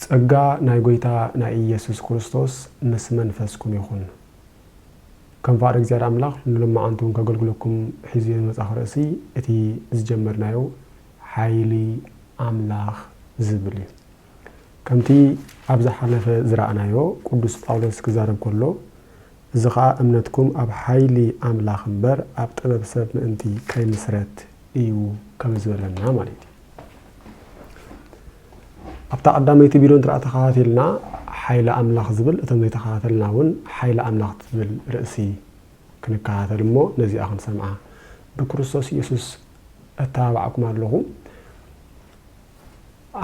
ጸጋ ናይ ጎይታ ናይ ኢየሱስ ክርስቶስ ምስ መንፈስኩም ይኹን። ከም ፍቓድ እግዚኣብሔር ኣምላኽ ንሎማዓንቱ ከገልግለኩም ሒዝዮ ዝመጻኹ ርእሲ እቲ ዝጀመርናዮ ሓይሊ ኣምላኽ ዝብል እዩ። ከምቲ ኣብ ዝሓለፈ ዝረኣናዮ ቅዱስ ጳውሎስ ክዛረብ ከሎ እዚ ኸኣ እምነትኩም ኣብ ሓይሊ ኣምላኽ እምበር ኣብ ጥበብ ሰብ ምእንቲ ከይምስረት እዩ ከም ዝበለና ማለት እዩ። ኣብታ ቀዳመይቲ ቪድዮ እንተ ተኸታቲልና ሓይሊ ኣምላኽ ዝብል እቶም ዘይተኸታተልና እውን ሓይሊ ኣምላኽ ትብል ርእሲ ክንከታተል እሞ ነዚኣ ክንሰምዓ ብክርስቶስ ኢየሱስ እተባባዕኩም ኣለኹ።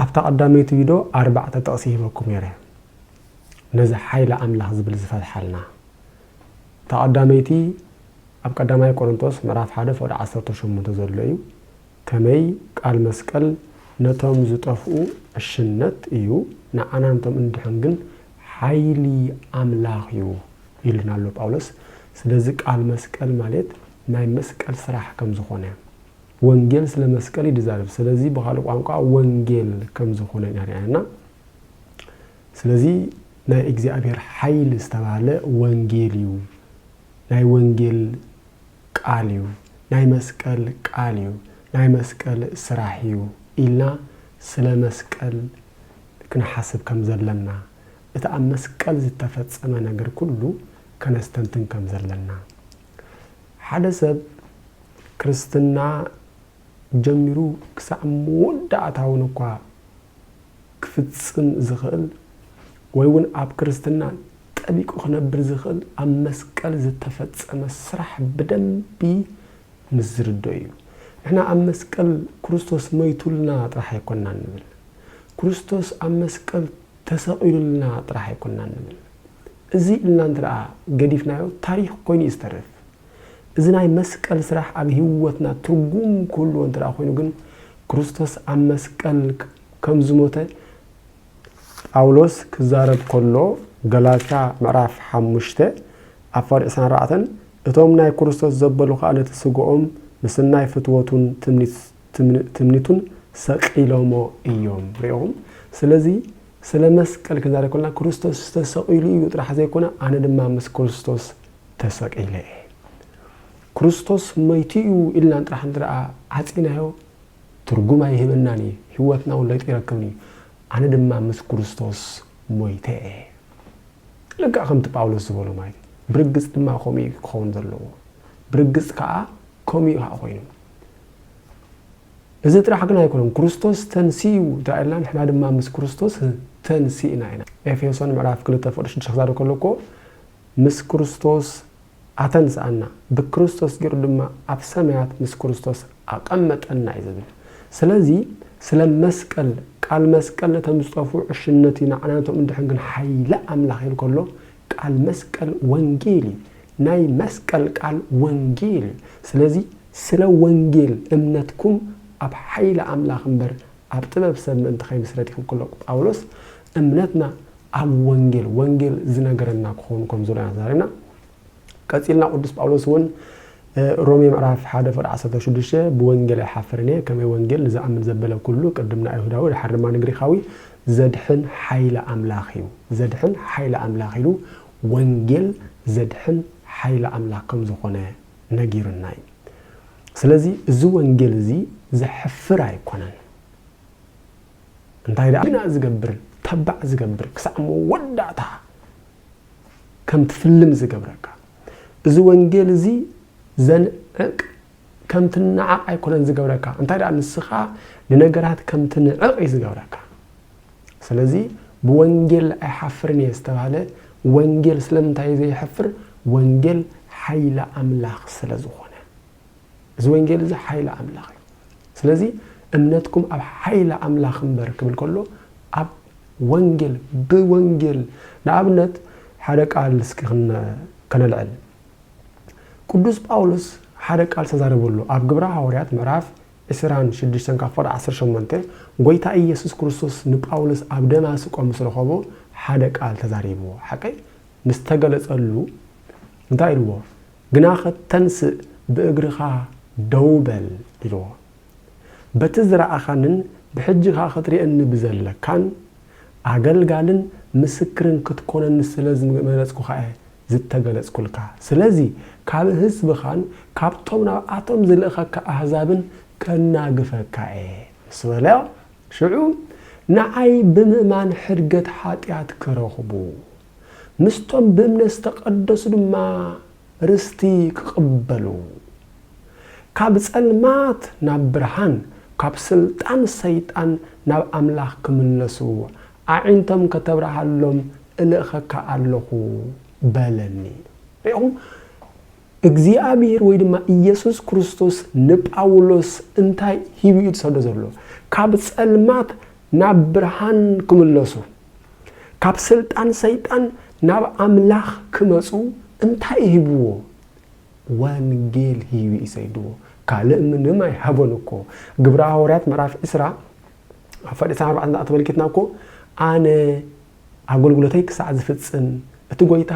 ኣብታ ቀዳመይቲ ቪድዮ ኣርባዕተ ጥቕሲ ሂበኩም ነይረ። ነዚ ሓይሊ ኣምላኽ ዝብል ዝፈትሓልና። እታ ቀዳመይቲ ኣብ ቀዳማይ ቆሮንቶስ ምዕራፍ ሓደ ፍቕዲ ዓሰርተ ሸሞንተ ዘሎ እዩ፣ ከመይ ቃል መስቀል ነቶም ዝጠፍኡ ዕሽነት እዩ ንዓና ነቶም እንድሕን ግን ሓይሊ ኣምላኽ እዩ ኢሉና ኣሎ ጳውሎስ። ስለዚ ቃል መስቀል ማልት ናይ መስቀል ስራሕ ከም ዝኾነ። ወንጌል ስለ መስቀል እዩ ዝዛረብ፣ ስለዚ ብኻልእ ቋንቋ ወንጌል ከም ዝኾነ ኢና ርኣና። ስለዚ ናይ እግዚኣብሔር ሓይል ዝተባህለ ወንጌል እዩ ናይ ወንጌል ቃል እዩ ናይ መስቀል ቃል እዩ ናይ መስቀል ስራሕ እዩ ኢልና ስለ መስቀል ክንሓስብ ከም ዘለና እቲ ኣብ መስቀል ዝተፈጸመ ነገር ኩሉ ከነስተንትን ከም ዘለና ሓደ ሰብ ክርስትና ጀሚሩ ክሳዕ መወዳእታውን እኳ ክፍጽም ዝኽእል ወይ ውን ኣብ ክርስትና ጠቢቁ ክነብር ዝኽእል ኣብ መስቀል ዝተፈጸመ ስራሕ ብደንቢ ምስ ዝርድኦ እዩ። ንሕና ኣብ መስቀል ክርስቶስ መይቱልና ጥራሕ ኣይኮናን ንብል። ክርስቶስ ኣብ መስቀል ተሰቂሉልና ጥራሕ ኣይኮናን ንብል። እዚ ኢልና እንትድኣ ገዲፍናዮ ታሪኽ ኮይኑ እዩ ዝተርፍ። እዚ ናይ መስቀል ስራሕ ኣብ ሂወትና ትርጉም ክህልዎ እንትድኣ ኮይኑ ግን ክርስቶስ ኣብ መስቀል ከም ዝሞተ ጳውሎስ ክዛረብ ከሎ፣ ገላትያ ምዕራፍ ሓሙሽተ ኣብ ፍቕዲ ዕስራን ኣርባዕተን፣ እቶም ናይ ክርስቶስ ዘበሉ ኸኣ ነቲ ስግኦም ምስናይ ፍትወቱን ትምኒቱን ሰቒሎሞ እዮም። ርኢኹም? ስለዚ ስለ መስቀል ክንዛረብ ከሎና ክርስቶስ ተሰቒሉ እዩ ጥራሕ ዘይኮነ ኣነ ድማ ምስ ክርስቶስ ተሰቒለ እየ። ክርስቶስ ሞይቱ እዩ ኢልና ጥራሕ እንተደኣ ዓጺናዮ ትርጉም ኣይህበናን እዩ፣ ህይወትና እውን ለውጢ ኣይረክብን እዩ። ኣነ ድማ ምስ ክርስቶስ ሞይተ እየ። ልክዕ ከምቲ ጳውሎስ ዝበሎ ማለት እዩ። ብርግጽ ድማ ከምኡ እዩ ክኸውን ዘለዎ። ብርግጽ ከኣ ከምኡ እዩ ከኣ ኮይኑ። እዚ ጥራሕ ግን ኣይኮነን፣ ክርስቶስ ተንሲኡ እንተደኣ ኢልና ንሕና ድማ ምስ ክርስቶስ ተንሲእና ኢና። ኤፌሶን ምዕራፍ ክልተ ፍቅዲ ሽዱሽተ ክዛረብ ከሎ እኮ ምስ ክርስቶስ ኣተንስኣና፣ ብክርስቶስ ገይሩ ድማ ኣብ ሰማያት ምስ ክርስቶስ ኣቐመጠና እዩ ዝብል። ስለዚ ስለ መስቀል፣ ቃል መስቀል ነቶም ዝጠፍኡ ዕሽነት እዩ፣ ንዓና ነቶም እንድሕን ግን ሓይሊ ኣምላኽ ኢሉ ከሎ ቃል መስቀል ወንጌል እዩ። ናይ መስቀል ቃል ወንጌል እዩ። ስለዚ ስለ ወንጌል እምነትኩም ኣብ ሓይሊ ኣምላኽ እምበር ኣብ ጥበብ ሰብ ምእንቲ ኸይምስረት እዮም ክብሎ ጳውሎስ እምነትና ኣብ ወንጌል ወንጌል ዝነገረና ክኸውን ከም ዘሎ ኢና ዛሪና ቀጺልና ቅዱስ ጳውሎስ እውን ሮሜ ምዕራፍ ሓደ ፍቅዲ ዓሰርተ ሽዱሽተ ብወንጌል ኣይሓፍርን እየ ከመይ ወንጌል ንዝኣምን ዘበለ ኩሉ ቅድም ንኣይሁዳዊ ድሓር ድማ ንግሪኻዊ ዘድሕን ሓይሊ ኣምላኽ እዩ ዘድሕን ሓይሊ ኣምላኽ ኢሉ ወንጌል ዘድሕን ሓይሊ ኣምላኽ ከም ዝኾነ ነጊሩና እዩ ስለዚ እዚ ወንጌል እዚ ዘሕፍር ኣይኮነን እንታይ ደኣ ግና ዝገብር ተባዕ ዝገብር ክሳዕ መወዳእታ ከም ትፍልም ዝገብረካ እዚ ወንጌል እዚ ዘንዕቅ ከም ትናዓቕ ኣይኮነን ዝገብረካ እንታይ ደኣ ንስኻ ንነገራት ከም ትንዕቕ እዩ ዝገብረካ ስለዚ ብወንጌል ኣይሓፍርን እየ ዝተባህለ ወንጌል ስለምንታይ ዘይሐፍር ወንጌል ሓይሊ ኣምላኽ ስለ ዝኾነ እዚ ወንጌል እዚ ሓይሊ ኣምላኽ እዩ ስለዚ እምነትኩም ኣብ ሓይሊ ኣምላኽ እምበር ክብል ከሎ ኣብ ወንጌል ብወንጌል ንኣብነት ሓደ ቃል እስኪ ከነልዕል ቅዱስ ጳውሎስ ሓደ ቃል ተዛረበሉ ኣብ ግብረ ሃዋርያት ምዕራፍ ዕስራን ሽዱሽተን ካብ ፍቕዲ ዓሰርተ ሸሞንተ፣ ጐይታ ኢየሱስ ክርስቶስ ንጳውሎስ ኣብ ደማስቆ ምስ ረኸቦ ሓደ ቃል ተዛሪብዎ። ሓቀይ ምስ ተገለጸሉ እንታይ ኢልዎ? ግናኸ ተንስእ ብእግርኻ ደው በል ኢልዎ። በቲ ዝረኣኻንን ብሕጂ ከኣ ክትርእየኒ ብዘለካን፣ ኣገልጋልን ምስክርን ክትኮነኒ ስለ ዝመረጽኩኻ'የ ዝተገለጽኩልካ ስለዚ ካብ ህዝብኻን ካብቶም ናብኣቶም ዝልእኸካ ኣህዛብን ከናግፈካ እየ ምስ በለ ሽዑ ንዓይ ብምእማን ሕድገት ሓጢኣት ክረኽቡ ምስቶም ብእምነት ዝተቐደሱ ድማ ርስቲ ክቕበሉ ካብ ጸልማት ናብ ብርሃን ካብ ስልጣን ሰይጣን ናብ ኣምላኽ ክምለሱ ኣዒንቶም ከተብርሃሎም እልእኸካ ኣሎኹ በለኒ። ርኢኹም፣ እግዚኣብሄር ወይ ድማ ኢየሱስ ክርስቶስ ንጳውሎስ እንታይ ሂቡ እዩ ዝሰዶ ዘሎ? ካብ ጸልማት ናብ ብርሃን ክምለሱ፣ ካብ ስልጣን ሰይጣን ናብ ኣምላኽ ክመጹ እንታይ እዩ ሂብዎ? ወንጌል ሂቡ እዩ ሰይድዎ። ካልእ ምንም ኣይሃቦን እኮ። ግብረ ሃዋርያት ምዕራፍ ዕስራ ኣብ ፋይል ዕስራን ኣርባዕተን ኣተመልኪትና እኮ ኣነ ኣገልግሎተይ ክሳዕ ዝፍጽም እቲ ጎይታ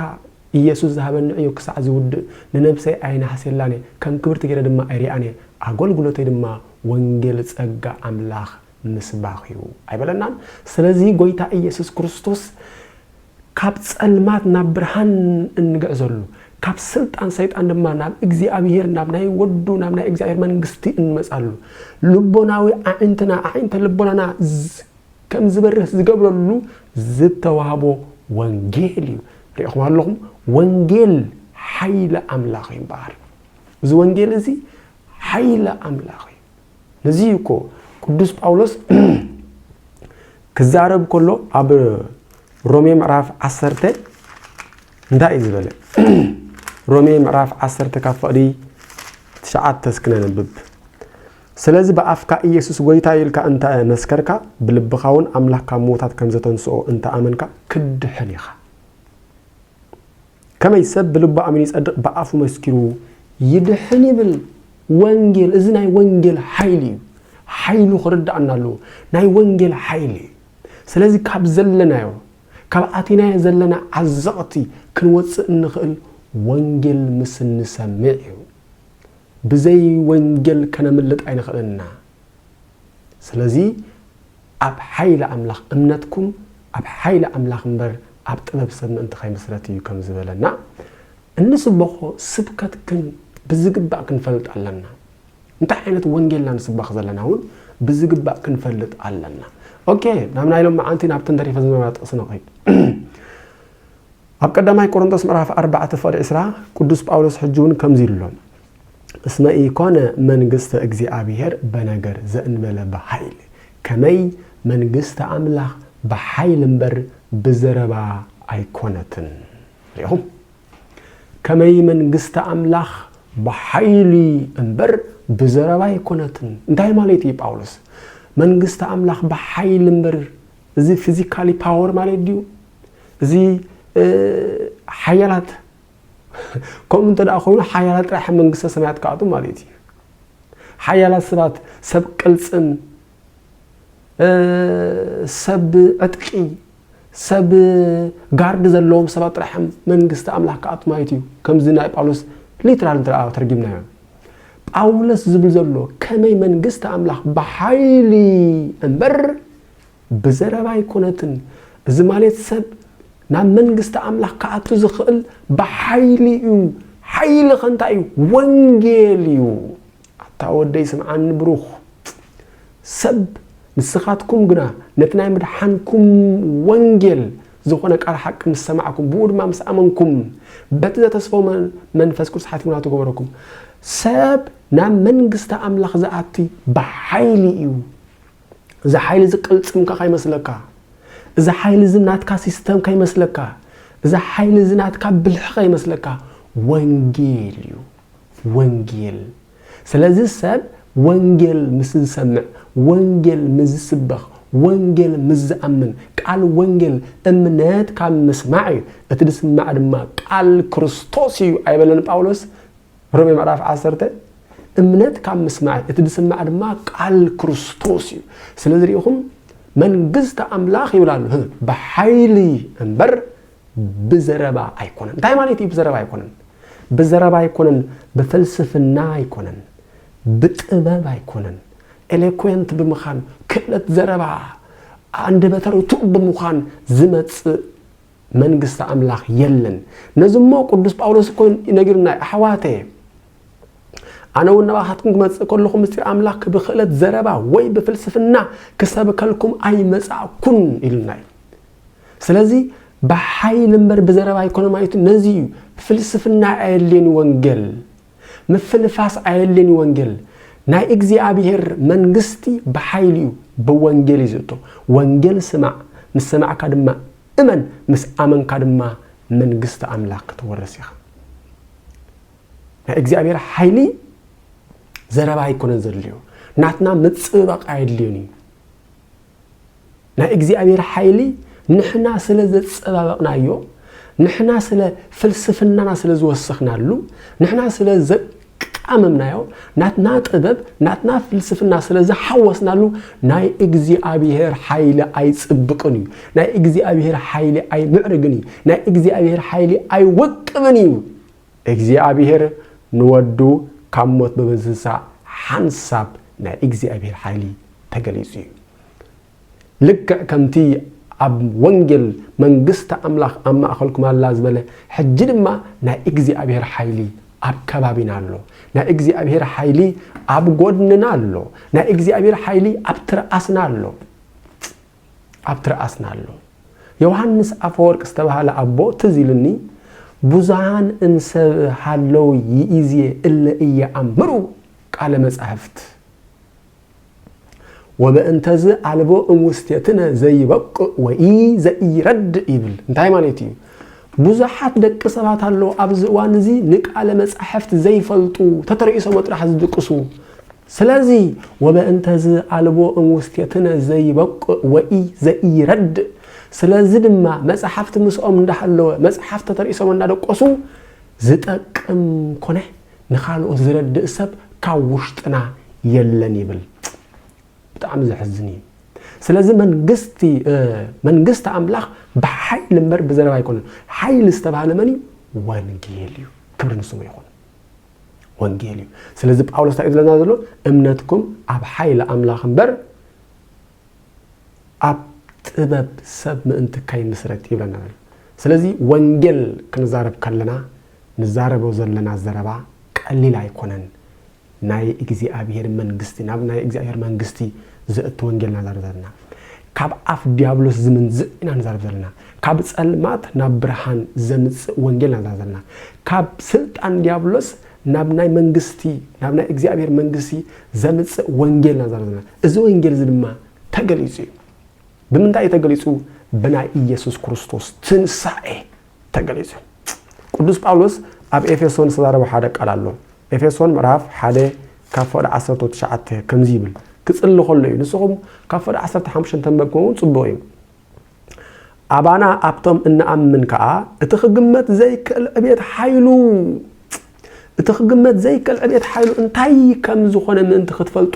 ኢየሱስ ዝሃበኒ ዕዮ ክሳዕ ዝውድእ ንነብሰይ ኣይነሃስየላን እየ ከም ክብርቲ ገይረ ድማ ኣይሪኣን እየ ኣገልግሎተይ ድማ ወንጌል ጸጋ ኣምላኽ ምስባኽ እዩ ኣይበለናን ስለዚ ጎይታ ኢየሱስ ክርስቶስ ካብ ጸልማት ናብ ብርሃን እንግዕዘሉ፣ ካብ ስልጣን ሰይጣን ድማ ናብ እግዚኣብሄር፣ ናብ ናይ ወዱ፣ ናብ ናይ እግዚኣብሄር መንግስቲ እንመጻሉ፣ ልቦናዊ ኣዒንትና፣ ኣዒንተ ልቦናና ከም ዝበርህ ዝገብረሉ ዝተዋህቦ ወንጌል እዩ። ርኢኹም ኣለኹም? ወንጌል ሓይሊ ኣምላኽ እዩ እምበኣር። እዚ ወንጌል እዚ ሓይሊ ኣምላኽ እዩ። ነዚ እዩ እኮ ቅዱስ ጳውሎስ ክዛረብ ከሎ ኣብ ሮሜ ምዕራፍ ዓሰርተ እንታይ እዩ ዝበለ? ሮሜ ምዕራፍ ዓሰርተ ካብ ፍቕዲ ትሽዓተ እስኪ ነንብብ። ስለዚ ብኣፍካ ኢየሱስ ጐይታ ኢልካ እንተ መስከርካ ብልብኻ እውን ኣምላኽ ካብ ምዉታት ከም ዘተንስኦ እንተ ኣመንካ ክትድሕን ኢኻ። ከመይ ሰብ ብልቡ ኣሚኑ ይጸድቅ ብኣፉ መስኪሩ ይድሕን ይብል ወንጌል እዚ ናይ ወንጌል ሓይሊ እዩ ሓይሉ ክርዳኣና ኣለዎ ናይ ወንጌል ሓይሊ እዩ ስለዚ ካብ ዘለናዮ ካብ ኣቲናዮ ዘለና ዓዘቕቲ ክንወፅእ እንኽእል ወንጌል ምስ እንሰምዕ እዩ ብዘይ ወንጌል ከነምልጥ ኣይንኽእልን ኢና ስለዚ ኣብ ሓይሊ ኣምላኽ እምነትኩም ኣብ ሓይሊ ኣምላኽ እምበር ኣብ ጥበብ ሰብ ምእንቲ ከይምስረት እዩ ከም ዝበለና እንስበኾ ስብከት ግን ብዝግባእ ክንፈልጥ ኣለና። እንታይ ዓይነት ወንጌልና ንስበኽ ዘለና እውን ብዝግባእ ክንፈልጥ ኣለና ኦኬ ናብ ናይ ሎም መዓንቲ ናብ ተንተሪፈ ዝነበራ ጥቕሲ ንኸይድ ኣብ ቀዳማይ ቆሮንቶስ ምዕራፍ 4 ፍቕዲ 20 ቅዱስ ጳውሎስ ሕጂ እውን ከምዚ ኢሉ ኣሎ እስመ ኢኮነ መንግስተ እግዚኣብሔር በነገር ዘእንበለ በኃይል፣ ከመይ መንግስተ ኣምላኽ ብኃይል እምበር ብዘረባ ኣይኮነትን። ርኢኹም? ከመይ መንግስተ ኣምላኽ ብኃይሊ እምበር ብዘረባ ኣይኮነትን። እንታይ ማለት እዩ ጳውሎስ? መንግስተ ኣምላኽ ብኃይል እምበር እዚ ፊዚካሊ ፓወር ማለት ድዩ? እዚ ሓያላት ከምኡ እንተ ኮይኑ ሓያላት ጥራሕ ኣብ መንግስተ ሰማያት ክኣትዉ ማለት እዩ። ሓያላት ሰባት ሰብ ቅልፅም፣ ሰብ ዕጥቂ፣ ሰብ ጋርዲ ዘለዎም ሰባት ጥራሕ መንግስቲ ኣምላኽ ክኣትዉ ማለት እዩ። ከምዚ ናይ ጳውሎስ ሊትራል እንተ ተርጊምናዮ ጳውሎስ ዝብል ዘሎ ከመይ መንግስቲ ኣምላኽ ብሓይሊ እምበር ብዘረባ ኣይኮነትን እዚ ማሌት ሰብ ናብ መንግስቲ ኣምላኽ ክኣቱ ዝኽእል ብሓይሊ እዩ ሓይሊ ከንታይ እዩ ወንጌል እዩ ኣታ ወደይ ስምዓኒ ብሩኽ ሰብ ንስኻትኩም ግና ነቲ ናይ ምድሓንኩም ወንጌል ዝኾነ ቃል ሓቂ ምስ ሰማዕኩም ብኡ ድማ ምስ ኣመንኩም በቲ ዘተስፎ መንፈስ ቅዱስ ሓቲሙና ትገበረኩም ሰብ ናብ መንግስቲ ኣምላኽ ዝኣቲ ብሓይሊ እዩ እዚ ሓይሊ እዚ ቅልጽምካ ከይመስለካ፣ እዚ ሓይሊ እዚ ናትካ ሲስተም ከይመስለካ፣ እዚ ሓይሊ እዚ ናትካ ብልሒ ከይመስለካ፣ ወንጌል እዩ። ወንጌል ስለዚ ሰብ ወንጌል ምስ ዝሰምዕ፣ ወንጌል ምስ ዝስበኽ፣ ወንጌል ምስ ዝኣምን፣ ቃል ወንጌል እምነት ካብ ምስማዕ እዩ፣ እቲ ዝስማዕ ድማ ቃል ክርስቶስ እዩ ኣይበለን ጳውሎስ? ሮሜ ምዕራፍ ዓሰርተ እምነት ካብ ምስማዕ እዩ፣ እቲ ዝስማዕ ድማ ቃል ክርስቶስ እዩ። ስለዚ ርኢኹም መንግስቲ ኣምላኽ ይብል ኣሎ ብሓይሊ እምበር ብዘረባ ኣይኮነን። እንታይ ማለት እዩ ብዘረባ ኣይኮነን? ብዘረባ ኣይኮነን፣ ብፍልስፍና ኣይኮነን፣ ብጥበብ ኣይኮነን፣ ኤሌኮንት ብምኻን ክእለት ዘረባ ኣንደበተ ርቱዕ ብምዃን ዝመጽእ መንግስቲ ኣምላኽ የለን። ነዚ እሞ ቅዱስ ጳውሎስ እኮ ነጊሩና እዩ፣ ኣሕዋተየ ኣነ እውን ናባኻትኩም ክመጽእ ከለኹ ምስጢር ኣምላኽ ብክእለት ዘረባ ወይ ብፍልስፍና ክሰብከልኩም ኣይመጻእኩን ኢሉና እዩ። ስለዚ ብሓይሊ እምበር ብዘረባ ኣይኮነም ኣይቱ ነዚ እዩ ፍልስፍና ኣየድልየኒ ወንጌል ምፍንፋስ ኣየድልን እዩ ወንጌል ናይ እግዚኣብሔር መንግስቲ ብሓይሊ እዩ ብወንጌል እዩ ዝእቶ ወንጌል ስማዕ ምስ ሰማዕካ ድማ እመን ምስ ኣመንካ ድማ መንግስቲ ኣምላኽ ክትወርስ ኢኻ ናይ እግዚኣብሔር ሓይሊ ዘረባ ኣይኮነን ዘድልዮ ናትና ምፅብባቕ ኣየድልዮን እዩ ናይ እግዚኣብሔር ሓይሊ ንሕና ስለ ዘጸባበቕናዮ፣ ንሕና ስለ ፍልስፍናና ስለ ዝወሰኽናሉ፣ ንሕና ስለ ዘቃመምናዮ፣ ናትና ጥበብ ናትና ፍልስፍና ስለ ዝሓወስናሉ ናይ እግዚኣብሔር ሓይሊ ኣይጽብቕን እዩ። ናይ እግዚኣብሔር ሓይሊ ኣይምዕርግን እዩ። ናይ እግዚኣብሔር ሓይሊ ኣይወቅብን እዩ። እግዚኣብሄር ንወዱ ካብ ሞት ብምትንሳእ ሓንሳብ ናይ እግዚኣብሄር ሓይሊ ተገሊጹ እዩ። ልክዕ ከምቲ ኣብ ወንጌል መንግስቲ ኣምላኽ ኣብ ማእከልኩም ኣላ ዝበለ ሕጂ ድማ ናይ እግዚኣብሄር ሓይሊ ኣብ ከባቢና ኣሎ። ናይ እግዚኣብሄር ሓይሊ ኣብ ጎድንና ኣሎ። ናይ እግዚኣብሄር ሓይሊ ኣብ ትርኣስና ኣሎ። ኣብ ትርኣስና ኣሎ። ዮውሃንስ ኣፈወርቅ ዝተባህለ ኣቦ ትዝ ኢሉኒ ብዙሃን እምሰብ ሃለው ይኢዜ እለ ኢየኣምሩ ቃለ መጻሕፍት ወበእንተዝ ኣልቦ እምውስቴትነ ዘይበቁእ ወኢ ዘኢረድእ ይብል። እንታይ ማለት እዩ? ብዙሓት ደቂ ሰባት ኣለዉ ኣብዚ እዋን እዚ ንቃለ መጻሕፍት ዘይፈልጡ ተተረኢሶሞ ጥራሕ ዝድቅሱ ስለዚ ወበእንተዝ ኣልቦ እምውስቴትነ ዘይበቁዕ ወኢ ዘኢይረድእ ስለዚ ድማ መጽሓፍት ምስኦም እንዳሃለወ መጽሓፍ ተተርኢሶም እንዳደቆሱ ዝጠቅም ኮነ ንኻልኦት ዝረድእ ሰብ ካብ ውሽጥና የለን ይብል። ብጣዕሚ ዘሕዝን እዩ። ስለዚ መንግስቲ መንግስቲ ኣምላኽ ብሓይሊ እምበር ብዘረባ ኣይኮነን። ሓይሊ ዝተባህለ መን እዩ? ወንጌል እዩ። ክብሪ ንስሙ ይኹን። ወንጌል እዩ ስለዚ ጳውሎስ እንታይ እዩ ዝለና ዘሎ እምነትኩም ኣብ ሓይሊ ኣምላኽ እምበር ኣብ ጥበብ ሰብ ምእንቲ ከይምስረት ይብለና ዘሎ ስለዚ ወንጌል ክንዛረብ ከለና ንዛረቦ ዘለና ዘረባ ቀሊል ኣይኮነን ናይ እግዚኣብሄር መንግስቲ ናብ ናይ እግዚኣብሄር መንግስቲ ዘእቱ ወንጌል ናዛር ዘለና ካብ ኣፍ ድያብሎስ ዝምንዝዕ ኢና ንዛረብ ዘለና። ካብ ጸልማት ናብ ብርሃን ዘምጽእ ወንጌል ኢና ንዛረብ ዘለና። ካብ ስልጣን ድያብሎስ ናብ ናይ መንግስቲ ናብ ናይ እግዚኣብሔር መንግስቲ ዘምጽእ ወንጌል ኢና ንዛረብ ዘለና። እዚ ወንጌል እዚ ድማ ተገሊጹ እዩ። ብምንታይ እዩ ተገሊጹ? ብናይ ኢየሱስ ክርስቶስ ትንሳኤ ተገሊጹ እዩ። ቅዱስ ጳውሎስ ኣብ ኤፌሶን ዝተዛረቦ ሓደ ቃል ኣሎ። ኤፌሶን ምዕራፍ ሓደ ካብ ፍቕዲ ዓሰርተው ትሽዓተ ከምዚ ይብል ክጽሊ ከሎ እዩ። ንስኹም ካብ ፍቕዲ ዓሰርተ ሓሙሽተ እንተንበብኩም እውን ጽቡቕ እዩ። ኣባና ኣብቶም እንኣምን ከዓ እቲ ክግመት ዘይክእል ዕቤት ሓይሉ እቲ ክግመት ዘይክእል ዕቤት ሓይሉ እንታይ ከም ዝኾነ ምእንቲ ክትፈልጡ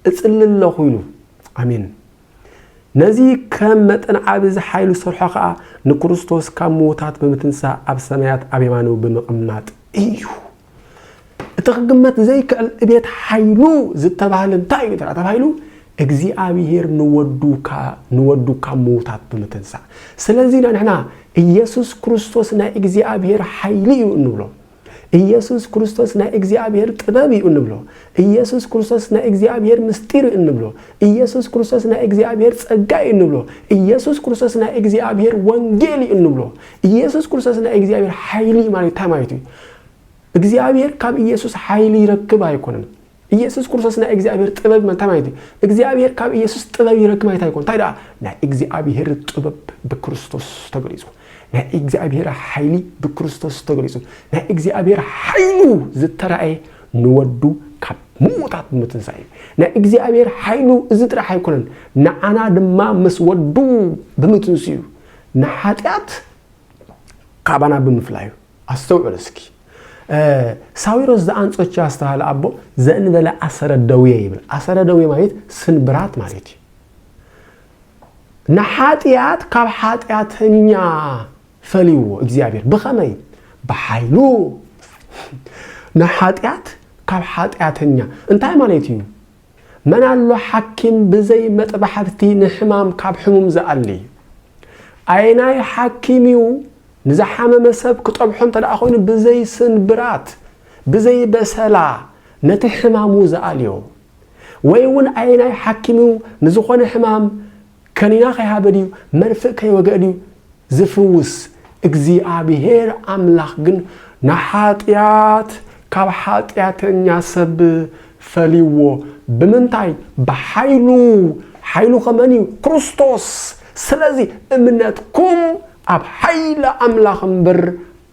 እጽሊ ኣለኹ ኢሉ። ኣሜን። ነዚ ከም መጠን ዓቢ ዝሓይሉ ሰርሖ ከኣ ንክርስቶስ ካብ ምዉታት ብምትንሳእ ኣብ ሰማያት ኣብ የማኑ ብምቕማጥ እዩ። እቲ ክግመት ዘይክዕል እቤት ሓይሉ ዝተባህለ እንታይ እዩ ተባሂሉ እግዚኣብሄር ንወዱ ካብ ምዉታት ብምትንሳእ ስለዚ ኢና ንሕና ኢየሱስ ክርስቶስ ናይ እግዚኣብሄር ሓይሊ እዩ እንብሎ ኢየሱስ ክርስቶስ ናይ እግዚኣብሔር ጥበብ እዩ እንብሎ። ኢየሱስ ክርስቶስ ናይ እግዚኣብሔር ምስጢር እዩ እንብሎ። ኢየሱስ ክርስቶስ ናይ እግዚኣብሔር ጸጋ እዩ እንብሎ። ኢየሱስ ክርስቶስ ናይ እግዚኣብሔር ወንጌል እዩ እንብሎ። ኢየሱስ ክርስቶስ ናይ እግዚኣብሔር ሓይሊ ማለት እንታይ ማለት እዩ? እግዚኣብሔር ካብ ኢየሱስ ሓይሊ ይረክብ ኣይኮነን። ኢየሱስ ክርስቶስ ናይ እግዚኣብሔር ጥበብ መ እንታይ ማለት እዩ? እግዚኣብሔር ካብ ኢየሱስ ጥበብ ይረክብ ማለት ኣይኮን እንታይ ደኣ ናይ እግዚኣብሔር ጥበብ ብክርስቶስ ተገሊጹ ናይ እግዚኣብሔር ሓይሊ ብክርስቶስ ተገሊጹ ናይ እግዚኣብሔር ሓይሉ ዝተራእየ ንወዱ ካብ ምዉታት ብምትንሳእ እዩ ናይ እግዚኣብሔር ሓይሉ እዚ ጥራሕ ኣይኮነን ንዓና ድማ ምስ ወዱ ብምትንስኡ ንሓጢኣት ካባና ብምፍላዩ ኣስተውዕል እስኪ ሳዊሮስ ዘኣንጾች ያስተሃል ኣቦ ዘእንበለ ኣሰረ ደዌ ይብል ኣሰረ ደዌ ማለት ስንብራት ማለት እዩ ንሓጢኣት ካብ ሓጢኣተኛ ፈልይዎ እግዚኣብሔር ብኸመይ ብሓይሉ ንሓጢኣት ካብ ሓጢኣተኛ እንታይ ማለት እዩ መን ኣሎ ሓኪም ብዘይ መጥባሕብቲ ንሕማም ካብ ሕሙም ዝኣሊ? ኣየናይ ሓኪም እዩ ንዝሓመመ ሰብ ክጠብሖ እንተ ደኣ ኮይኑ ብዘይ ስንብራት፣ ብዘይ በሰላ ነቲ ሕማሙ ዝኣልዮ? ወይ እውን ኣየናይ ሓኪም እዩ ንዝኾነ ሕማም ከኒና ከይሃበ ድዩ መርፍእ ከይወግአ ድዩ ዝፍውስ? እግዚኣብሄር ኣምላኽ ግን ንሓጢኣት ካብ ሓጢኣተኛ ሰብ ፈልይዎ። ብምንታይ? ብሓይሉ። ሓይሉ ከመን እዩ? ክርስቶስ። ስለዚ እምነትኩም ኣብ ሓይሊ ኣምላኽ እምበር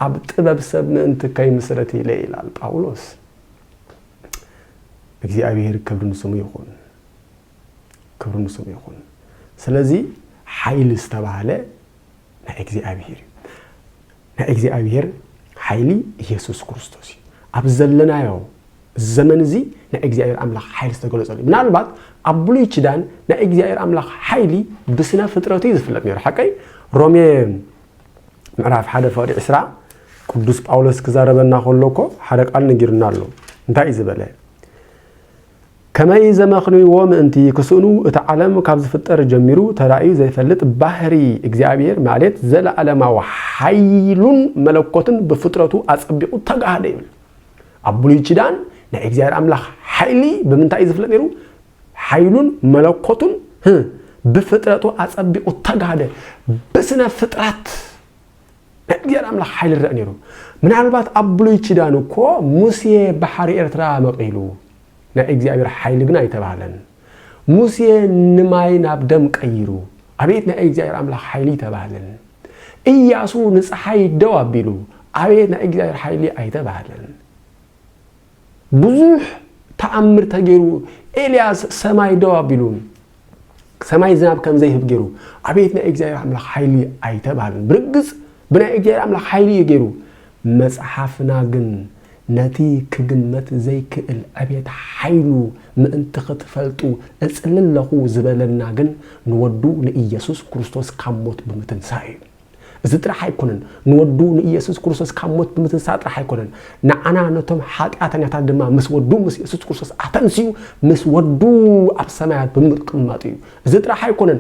ኣብ ጥበብ ሰብ ምእንቲ ከይምስረት ኢለ ይላል ጳውሎስ። እግዚኣብሄር ክብሪ ንስሙ ይኹን። ክብሪ ንስሙ ይኹን። ስለዚ ሓይሊ ዝተባህለ ናይ እግዚኣብሄር እዩ። ናይ እግዚኣብሄር ሓይሊ ኢየሱስ ክርስቶስ እዩ። ኣብ ዘለናዮ ዘመን እዚ ናይ እግዚኣብሔር ኣምላኽ ሓይሊ ዝተገለጸሉ ምናልባት ኣብ ብሉይ ኪዳን ናይ እግዚኣብሔር ኣምላኽ ሓይሊ ብስነ ፍጥረቱ እዩ ዝፍለጥ ነይሩ ሓቀይ ሮሜ ምዕራፍ ሓደ ፍቕዲ ዕስራ ቅዱስ ጳውሎስ ክዛረበና ከሎ እኮ ሓደ ቃል ነጊሩና ኣሎ እንታይ እዩ ዝበለ ከመይ ዘመኽንዩዎ ምእንቲ ክስእኑ እቲ ዓለም ካብ ዝፍጠር ጀሚሩ ተራእዩ ዘይፈልጥ ባህሪ እግዚኣብሔር ማሌት ዘለዓለማዊ ሓይሉን መለኮትን ብፍጥረቱ ኣጸቢቑ ተጋህደ ይብል። ኣብ ብሉይ ቺዳን ናይ እግዚኣብሔር ኣምላኽ ሓይሊ ብምንታይ እዩ ዝፍለጥ ነይሩ? ሓይሉን መለኮቱን ብፍጥረቱ ኣጸቢቑ ተጋህደ። ብስነ ፍጥረት ናይ እግዚኣብሔር ኣምላኽ ሓይሊ ይረኣ ነይሩ። ምናልባት ኣብ ብሉይ ኪዳን እኮ ሙሴ ባሕሪ ኤርትራ መቒሉ ናይ እግዚኣብሔር ሓይሊ ግን ኣይተባህለን። ሙሴ ንማይ ናብ ደም ቀይሩ ኣቤት ናይ እግዚኣብሔር ኣምላኽ ሓይሊ ኣይተባህለን። ኢያሱ ንፀሓይ ደው ኣቢሉ ኣቤት ናይ እግዚኣብሔር ሓይሊ ኣይተባህለን። ብዙሕ ተኣምር ተገይሩ ኤልያስ ሰማይ ደው ኣቢሉ ሰማይ ዝናብ ከም ዘይህብ ገይሩ ኣቤት ናይ እግዚኣብሔር ኣምላኽ ሓይሊ ኣይተባህልን ብርግጽ ብናይ እግዚኣብሔር ኣምላኽ ሓይሊ እዩ ገይሩ መጽሓፍና ግን ነቲ ክግመት ዘይክእል ዕቤት ሓይሉ ምእንቲ ክትፈልጡ እጽሊ ኣለኹ ዝበለና ግን ንወዱ ንኢየሱስ ክርስቶስ ካብ ሞት ብምትንሳእ እዩ እዚ ጥራሕ ኣይኮነን፣ ንወዱ ንኢየሱስ ክርስቶስ ካብ ሞት ብምትንሳእ ጥራሕ ኣይኮነን፣ ንዓና ነቶም ሓጢኣተኛታት ድማ ምስ ወዱ ምስ ኢየሱስ ክርስቶስ ኣተንሲኡ ምስ ወዱ ኣብ ሰማያት ብምቅማጡ እዩ። እዚ ጥራሕ ኣይኮነን፣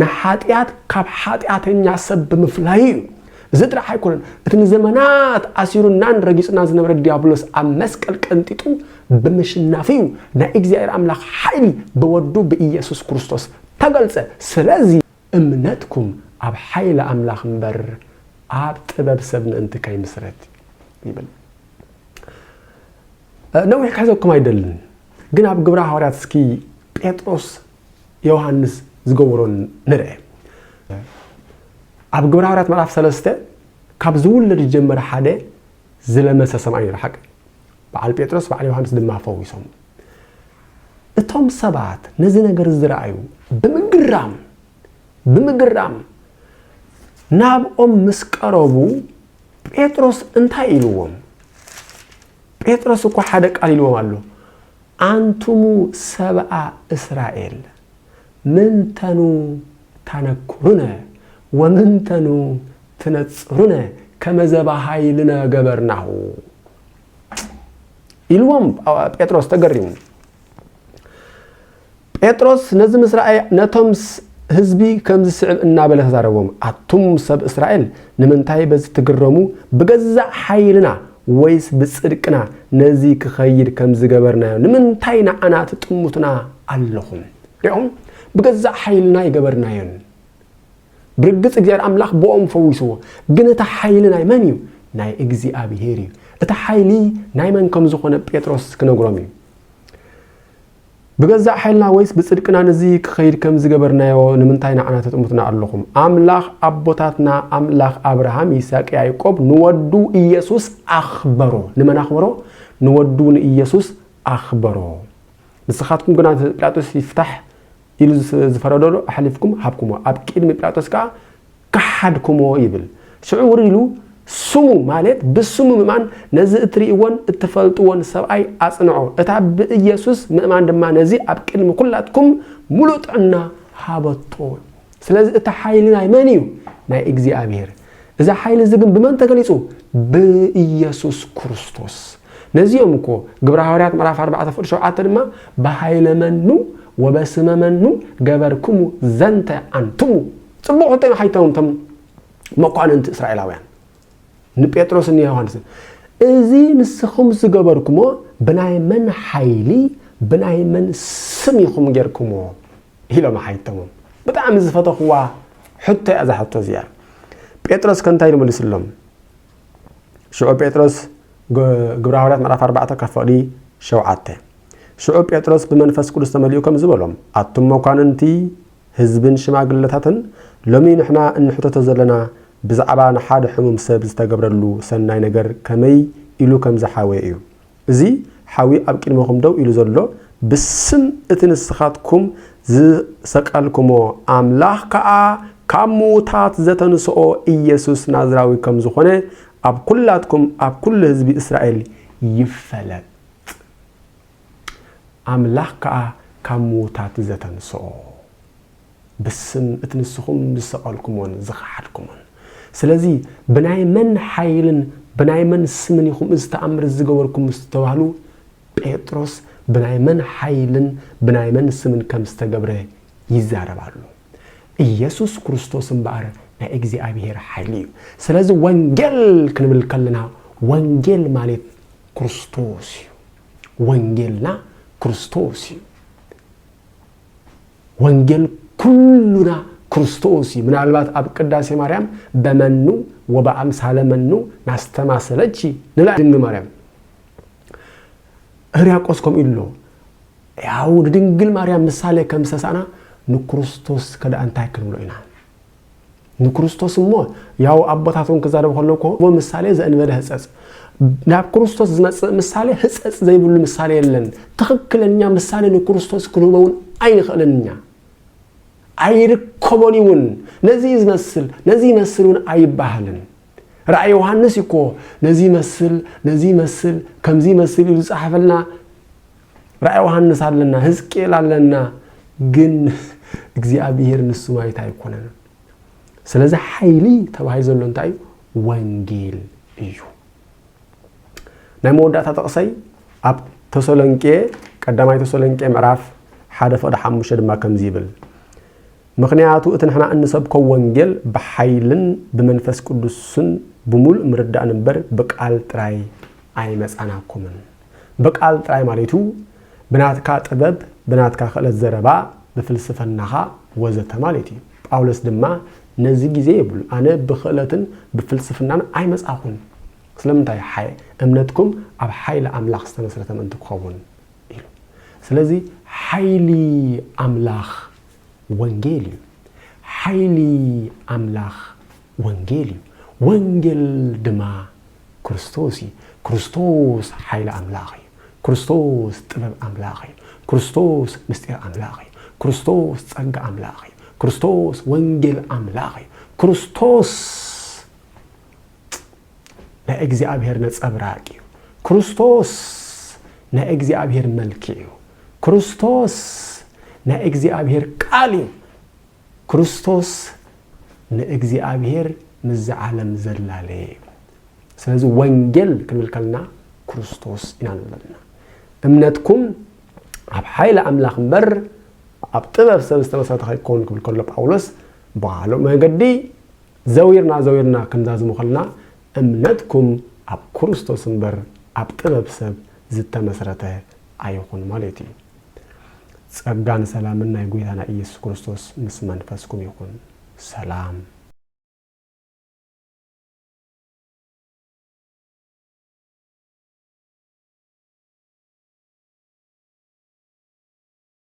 ንሓጢኣት ካብ ሓጢኣተኛ ሰብ ብምፍላዩ እዩ። እዚ ጥራሕ ኣይኮነን፣ እቲ ንዘመናት ኣሲሩናን ረጊጹናን ዝነበረ ዲያብሎስ ኣብ መስቀል ቀንጢጡ ብምሽናፉ እዩ። ናይ እግዚኣብሔር ኣምላኽ ሓይሊ ብወዱ ብኢየሱስ ክርስቶስ ተገልጸ። ስለዚ። እምነትኩም ኣብ ሓይሊ ኣምላኽ እምበር ኣብ ጥበብ ሰብ ምእንቲ ከይምስረት ይብል። ነዊሕ ክሕዘኩም ኣይደልን፣ ግን ኣብ ግብረ ሃዋርያት እስኪ ጴጥሮስ ዮሃንስ ዝገበሮ ንርኤ። ኣብ ግብረ ሃዋርያት ምዕራፍ ሰለስተ ካብ ዝውለድ ዝጀመረ ሓደ ዝለመሰ ሰምኣይ ነይሩ ሓቂ በዓል ጴጥሮስ በዓል ዮሃንስ ድማ ፈዊሶም እቶም ሰባት ነዚ ነገር ዝረኣዩ ብምግራም ብምግራም ናብኦም ምስ ቀረቡ ጴጥሮስ እንታይ ኢልዎም? ጴጥሮስ እኳ ሓደ ቃል ኢልዎም ኣሎ። ኣንቱሙ ሰብኣ እስራኤል ምንተኑ ታነኩሩነ ወምንተኑ ትነጽሩነ ከመዘባሃይልነ ገበርናሁ ኢልዎም ጴጥሮስ ተገሪሙ ጴጥሮስ ነዚ ምስ ረኣየ ነቶም ህዝቢ ከም ዝስዕብ እናበለ ተዛረቦም ኣቱም ሰብ እስራኤል ንምንታይ በዚ ትግረሙ ብገዛእ ሓይልና ወይስ ብጽድቅና ነዚ ክኸይድ ከም ዝገበርናዮ ንምንታይ ንዓና ትጥምቱና ኣለኹም ሪኦም ብገዛእ ሓይልና ይገበርናዮን ብርግጽ እግዚኣብሔር ኣምላኽ ብኦም ፈዊስዎ። ግን እቲ ሓይሊ ናይ መን እዩ? ናይ እግዚኣብሔር እዩ። እቲ ሓይሊ ናይ መን ከም ዝኾነ ጴጥሮስ ክነግሮም እዩ። ብገዛእ ሓይልና ወይስ ብጽድቅና ንዚ ክኸይድ ከም ዝገበርናዮ ንምንታይ ንዓና ተጥምቱና ኣለኹም? ኣምላኽ ኣቦታትና ኣምላኽ ኣብርሃም፣ ይስሐቅ፣ ያዕቆብ ንወዱ ኢየሱስ ኣኽበሮ። ንመን ኣኽበሮ? ንወዱ ንኢየሱስ ኣኽበሮ። ንስኻትኩም ግና ጲላጦስ ይፍታሕ ኢሉ ዝፈረደሉ ኣሕሊፍኩም ሃብኩምዎ፣ ኣብ ቅድሚ ጲላጦስ ከኣ ከሓድኩምዎ ይብል። ሽዑ ውርይ ኢሉ ስሙ ማለት ብስሙ ምእማን ነዚ እትርእይዎን እትፈልጥዎን ሰብኣይ ኣጽንዖ፣ እታ ብኢየሱስ ምእማን ድማ ነዚ ኣብ ቅድሚ ኵላትኩም ምሉእ ጥዕና ሃበቶ። ስለዚ እቲ ሓይሊ ናይ መን እዩ? ናይ እግዚኣብሔር። እዚ ሓይሊ እዚ ግን ብመን ተገሊጹ? ብኢየሱስ ክርስቶስ። ነዚ እዮም እኮ ግብረ ሃዋርያት ምዕራፍ 4 ፍቅዲ 7 ድማ ብሃይለ መኑ ወበስመ መኑ ገበርክሙ ዘንተ ኣንትሙ ጽቡቕ ሕቶ ኢና ሓይተውን ቶም መኳንንቲ እስራኤላውያን ንጴጥሮስ ንዮሃንስን እዚ ንስኹም ዝገበርኩሞ ብናይ መን ሓይሊ ብናይ መን ስም ኢኹም ጌርኩሞ ኢሎም ኣሓይተሞም። ብጣዕሚ ዝፈተኹዋ ሕቶ እያ እዛ ሕቶ እዚኣ። ጴጥሮስ ከ እንታይ ኢሉ መሊስሎም? ሽዑ ጴጥሮስ ግብረ ሃዋርያት ምዕራፍ ኣርባዕተ ካብ ፍቕዲ ሸውዓተ ሽዑ ጴጥሮስ ብመንፈስ ቅዱስ ተመሊኡ ከምዚ በሎም፣ ኣቱም መኳንንቲ ህዝብን ሽማግለታትን፣ ሎሚ ንሕና እንሕተቶ ዘለና ብዛዕባ ንሓደ ሕሙም ሰብ ዝተገብረሉ ሰናይ ነገር ከመይ ኢሉ ከም ዝሓወየ እዩ። እዚ ሓዊ ኣብ ቅድሜኹም ደው ኢሉ ዘሎ፣ ብስም እቲ ንስኻትኩም ዝሰቀልኩሞ ኣምላኽ ከኣ ካብ ምዉታት ዘተንስኦ ኢየሱስ ናዝራዊ ከም ዝኾነ ኣብ ኵላትኩም ኣብ ኵሉ ህዝቢ እስራኤል ይፈለጥ። ኣምላኽ ከኣ ካብ ምዉታት ዘተንስኦ። ብስም እቲ ንስኹም ዝሰቐልኩሞን ዝኸሓድኩሞን። ስለዚ ብናይ መን ሓይልን ብናይ መን ስምን ኢኹም እዚ ተኣምር እዚ ዝገበርኩም ምስ ተባህሉ፣ ጴጥሮስ ብናይ መን ሓይልን ብናይ መን ስምን ከም ዝተገብረ ይዛረብ ኣሎ። ኢየሱስ ክርስቶስ እምበኣር ናይ እግዚኣብሔር ሓይሊ እዩ። ስለዚ ወንጌል ክንብል ከለና ወንጌል ማለት ክርስቶስ እዩ። ወንጌልና ክርስቶስ እዩ። ወንጌል ኩሉና ክርስቶስ እዩ። ምናልባት ኣብ ቅዳሴ ማርያም በመኑ ወበአምሳለ መኑ ናስተማሰለኪ ንላ ድንግል ማርያም ህርያቆስ ከምኡ ኢሉ ያው ንድንግል ማርያም ምሳሌ ከም ዝሰሳእና ንክርስቶስ ከደኣ እንታይ ክንብሎ ኢና? ንክርስቶስ እሞ ያው ኣቦታቶም ክዛረብ ከሎ እኮ እሞ ምሳሌ ዘእንበለ ህጸጽ ናብ ክርስቶስ ዝመጽእ ምሳሌ ህጸጽ ዘይብሉ ምሳሌ የለን። ትኽክለኛ ምሳሌ ንክርስቶስ ክንህበውን ኣይንኽእልን እኛ ኣይርከቦን ይውን ነዚ ዝመስል ነዚ ይመስል እውን ኣይባሃልን ራእይ ዮሃንስ እኮ ነዚ ይመስል ነዚ ይመስል ከምዚ ይመስል ኢሉ ዝጸሓፈልና ራእይ ዮሃንስ ኣለና፣ ህዝቅኤል ኣለና፣ ግን እግዚኣብሄር ንሱ ማለት ኣይኮነን። ስለዚ ሓይሊ ተባሂሉ ዘሎ እንታይ እዩ? ወንጌል እዩ። ናይ መወዳእታ ጥቕሰይ ኣብ ተሰሎንቄ ቀዳማይ ተሰሎንቄ ምዕራፍ ሓደ ፍቕዲ ሓሙሽተ ድማ ከምዚ ይብል ምክንያቱ እቲ ንሕና እንሰብኮ ወንጌል ብሓይልን ብመንፈስ ቅዱስን ብምሉእ ምርዳእን እምበር ብቃል ጥራይ ኣይመጻናኩምን ብቃል ጥራይ ማሌቱ ብናትካ ጥበብ ብናትካ ክእለት ዘረባ ብፍልስፈናኻ ወዘተ ማሌት እዩ ጳውሎስ ድማ ነዚ ግዜ የብሉን ኣነ ብክእለትን ብፍልስፍናን ኣይመጻኹን ስለምንታይ ሓይ እምነትኩም ኣብ ሓይሊ ኣምላኽ ዝተመስረተ ምእንቲ ክኸውን ኢሉ ስለዚ ሓይሊ ኣምላኽ ወንጌል እዩ ሓይሊ ኣምላኽ ወንጌል እዩ ወንጌል ድማ ክርስቶስ እዩ ክርስቶስ ሓይሊ ኣምላኽ እዩ ክርስቶስ ጥበብ ኣምላኽ እዩ ክርስቶስ ምስጢር ኣምላኽ እዩ ክርስቶስ ጸጋ ኣምላኽ እዩ ክርስቶስ ወንጌል ኣምላኽ እዩ ክርስቶስ ናይ እግዚኣብሔር ነጸብራቅ እዩ ክርስቶስ ናይ እግዚኣብሔር መልክዕ እዩ ክርስቶስ ናይ እግዚኣብሔር ቃል እዩ ክርስቶስ ንእግዚኣብሄር ምስዚ ዓለም ዘላለየ እዩ። ስለዚ ወንጌል ክንብል ከለና ክርስቶስ ኢና ንብል ዘለና። እምነትኩም ኣብ ሓይሊ ኣምላኽ እምበር ኣብ ጥበብ ሰብ ዝተመሰረተ ከይከውን ክብል ከሎ ጳውሎስ ብካልእ መገዲ ዘዊርና ዘዊርና ክንዛዝሞ ከለና እምነትኩም ኣብ ክርስቶስ እምበር ኣብ ጥበብ ሰብ ዝተመስረተ ኣይኹን ማለት እዩ። ጸጋን ሰላምን ናይ ጎይታና ኢየሱስ ክርስቶስ ምስ መንፈስኩም ይኹን። ሰላም።